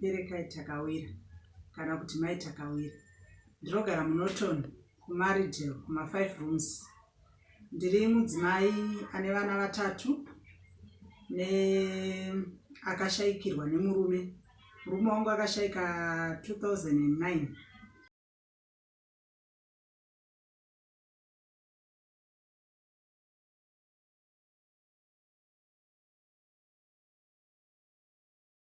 Perekai Takawira kana kuti Mai Takawira. Ndinogara muNorton, kuMaridale, kuma-five rooms. Ndiri mudzimai ane vana vatatu neakashaikirwa nemurume. Murume wangu akashaika 2009.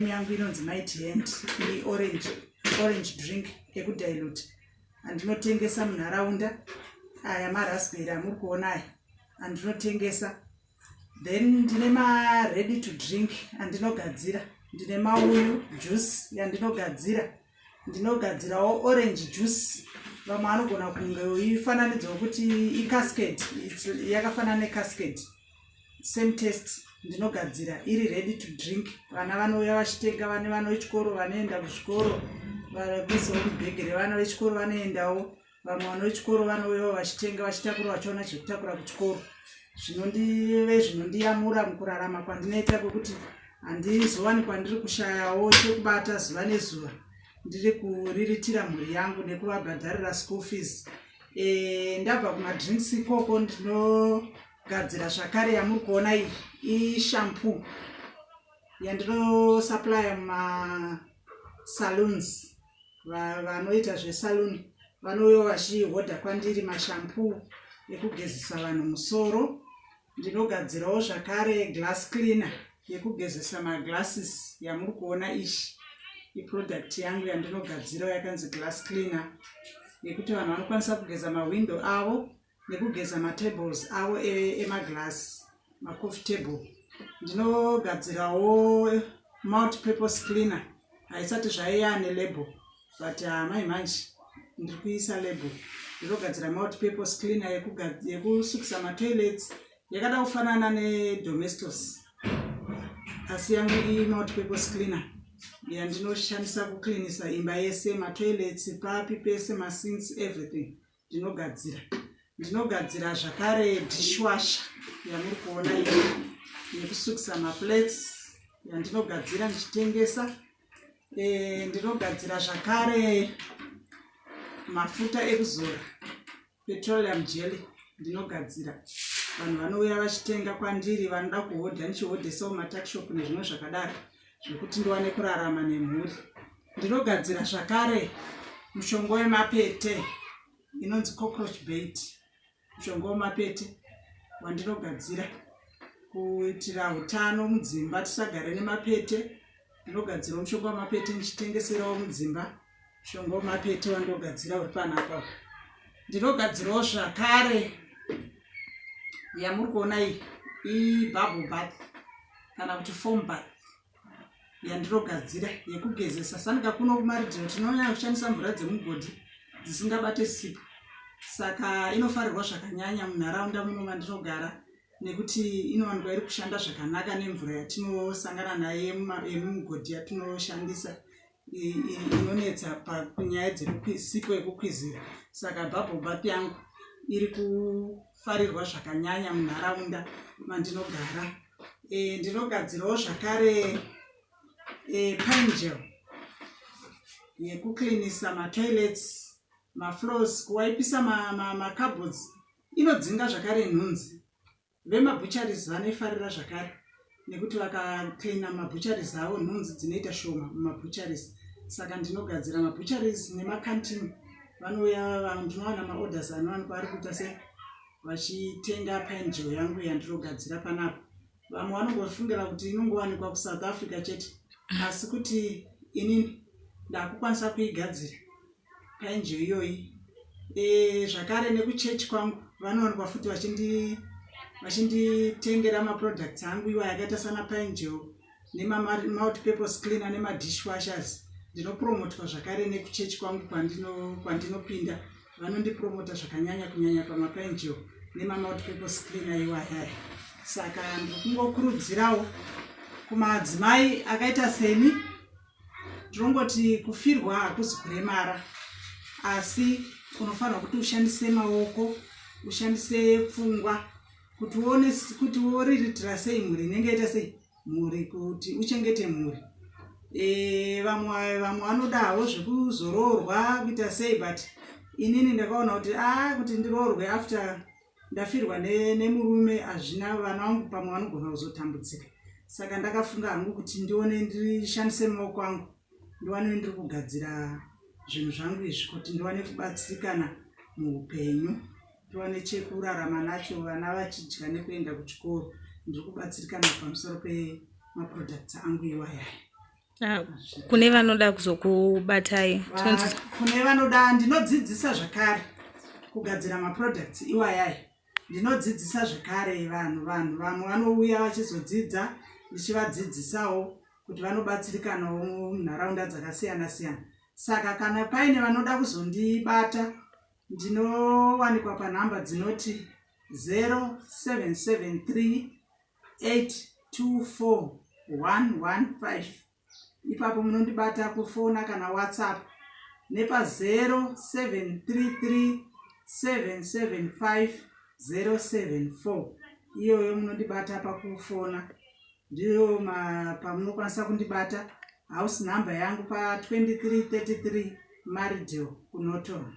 yangu inonzi might hand ine orange orange drink ekudilute andinotengesa munharaunda aya maraspbery amuri kuona aya andinotengesa then ndine maready to drink andinogadzira ndine mauyu juice yandinogadzira ndinogadzirawo orange juice vamwe anogona kunge ifananidzo wekuti icascade yakafanana necascade same test ndinogadzira iri ready to drink vana vanouya vachitenga vane vana vechikoro vanoenda kuzvikoro vanoisawo mubhege revana vechikoro vanoendawo vamwe vana vechikoro vanouyawo vachitenga vachitakura vachiona chekutakura kuchikoro zvinondive zvinondiyamura mukurarama kwandinoita kwekuti handizowani kwandiri kushayawo chekubata zuva nezuva ndiri kuriritira mhuri yangu nekuvabhadharira school fees e, ndabva kumadrinks ikoko ndinogadzira zvakare yamuri kuona iyi ishampoo yandinosuplya mumasaloons Va- vanoita zvesaluni vanouya vachihodha kwandiri mashampoo ekugezesa vanhu musoro ndinogadzirawo zvakare glass cleaner yekugezesa maglasses yamuri kuona ishi iproduct yangu yandinogadzirawo yakanzi glass cleaner yekuti vanhu vanokwanisa kugeza mahwindo avo nekugeza matables avo emaglass macoffee table ndinogadzirawo multi purpose cleaner haisati zvaiya nelabel but amai ah, manje ndiri kuisa label ndinogadzira multi purpose cleaner yekusukisa matoilets yakada kufanana nedomestos asi yangu iyi multi purpose cleaner yandinoshandisa kucleanisa imba yese matoilets papi pese masins everything ndinogadzira ndinogadzira zvakare dishwasha yamuri kuona iyo yekusukisa maplates yandinogadzira ndichitengesa e, ndinogadzira zvakare mafuta ekuzora petroleum jelly ndinogadzira vanhu vanouya vachitenga kwandiri vanoda kuhodha ndichihodhesawo matakshop nezvimwe zvakadaro zvekuti ndiwane kurarama nemhuri ndinogadzira zvakare mushonga wemapete inonzi cockroach bait mushonga wemapete wandinogadzira kuitira utano mudzimba tisagare nemapete ndinogadzirawo mushonga wemapete ndichitengeserawo mudzimba shongo mapete wandogadzira uri panapa ndinogadzirawo zvakare yamuri kuona iyi ibubble bath kana kuti foam bath yandirogadzira yekugezesa sanika kuno kumaridhiro tinonyanya kushandisa mvura dzemugodhi dzisingabate sipo saka inofarirwa zvakanyanya munharaunda muno mandinogara nekuti inowanikwa iri kushanda zvakanaka nemvura yatinosangana nayo yemumugodhi yatinoshandisa inonetsa panyaya dzekusipo yekukwizira saka bubble bath yangu iri kufarirwa zvakanyanya munharaunda mandinogara e, ndinogadzirawo zvakare e, pangel yekuklinisa matoilets mafloors kuwaipisa macabhods ma, ma inodzinga zvakare nhunzi Vemabutcheries vanoifarira zvakare nekuti vakacleana mabutcheries avo nhunzi dzinoita shoma mumabutcheries saka ndinogadzira mabutcheries nemacantine vanouya vanhu ndinowana maorders anowanikwa ari kuita se vachitenga painjeo yangu yandirogadzira panapa vamwe vanongofungira kuti inongowanikwa kusouth africa chete asi kuti inini ndakukwanisa kuigadzira angel iyoyi eh, zvakare nekuchurch kwangu vanowanikwa futi vachinditengera vachindi maproducts angu iwa yakaita sana paangel nemamouth purpose cleaner nemadishwashers ndinopromotwa zvakare nekuchechi kwangu kwandinopinda vanondipromota zvakanyanya kunyanya pamapaangel nemamouth purpose cleaner iwayaya saka ndiri kungokurudzirawo kumadzimai akaita seni Ndinongoti kufirwa hakuzi kuremara asi unofanirwa kuti ushandise maoko ushandise pfungwa kuti uone kuti woriritira sei mhuri inenge yaita sei mhuri kuti uchengete mhuri e, vamwe vamwe vanodawo zvekuzoroorwa kuita sei but inini ndakaona kuti a ah, kuti ndiroorwe after ndafirwa nemurume ne hazvina vana vangu pamwe vanogona kuzotambudzika saka ndakafunga hangu kuti ndione ndishandise maoko angu ndiwane ndiri kugadzira zvinhu zvangu izvi kuti ndiwane kubatsirikana muupenyu tiwane chekurarama nacho vana vachidya nekuenda kuchikoro ndiri kubatsirikana pamusoro pemaproducts angu iwayaya Ah, kune vanoda kuzokubatai ah, kune vanoda ndinodzidzisa zvakare kugadzira maproducts iwayai ndinodzidzisa zvekare vanhu vanhu vamwe vanouya vachizodzidza ndichivadzidzisawo kuti vanobatsirikanawo munharaunda dzakasiyana siyana saka kana paine vanoda kuzondibata ndinowanikwa panhamba dzinoti 0773 824115 ipapo munondibata kufona kana whatsapp nepa 0733775074 iyoyo munondibata pakufona ndiyo pamunokwanisa kundibata house number yangu pa 2333 maridio kunoton